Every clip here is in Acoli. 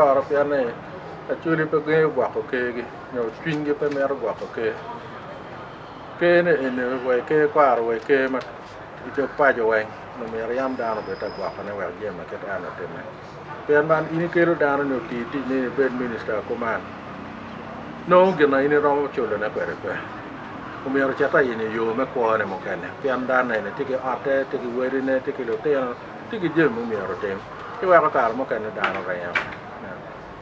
Loro pien ni Acholi pe gengo gwoko Kergi nyo cwinygi pe mito gwoko Ker. Ker ni eni owe Ker kwaro owe Ker ma i dog paco weng onongo myero yam dano obed ta gwokone wek jami ma kit en otimme. Pien man in ikelo dano ni oti tic ni ibed minista kuman nongo gin ma in iromo culone kwede pe. Omyero ocit ta in i yo me kwone mukene pien dano eni tye ki otte, tye ki wadine, tye ki lutino. tye ki jami mumyero otim ci weko kare mukene dano ringo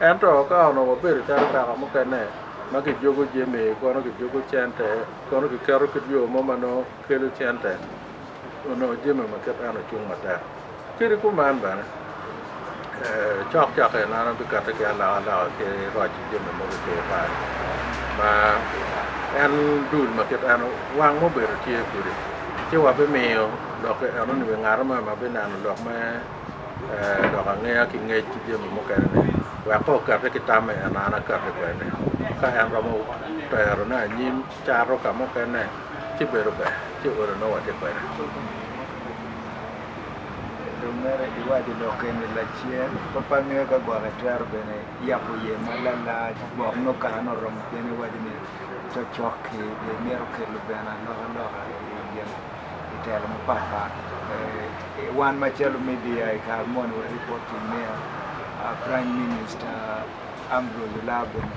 ento ka onongo wabedo calo kaka mukene ma kijuko jami kono kijuko cente kono kiketo kit yo mo ma nongo kelo cente onongo jami ma kit eno cung matek kadi kuman bene Cokcok en an abikate ki alokaloka ki roc ki jami mogo i kor pal ma en dul ma kit en wang ma obedo tye kwede ci wabimiyo lok enoni wi ngat mo ma bineno lok me lok angeya ki ngec ki jami mukene ni wek ka okate ki tam en an aye akate kwede ka en romo terone anyim cato ka mukene ci bedo ber ci olo nongo watye kwede. dong mere iwaco lok eni lacen, pe pe angeyo ka gwok itwero bene yabo iye ma lalac gwok nongo kare ne oromo pien iwaco ni cocoki be mito kelo bene alokaloka i telo mapat pat wan macalo media i kare moni wari bot prime minister Ambrose Olaa bene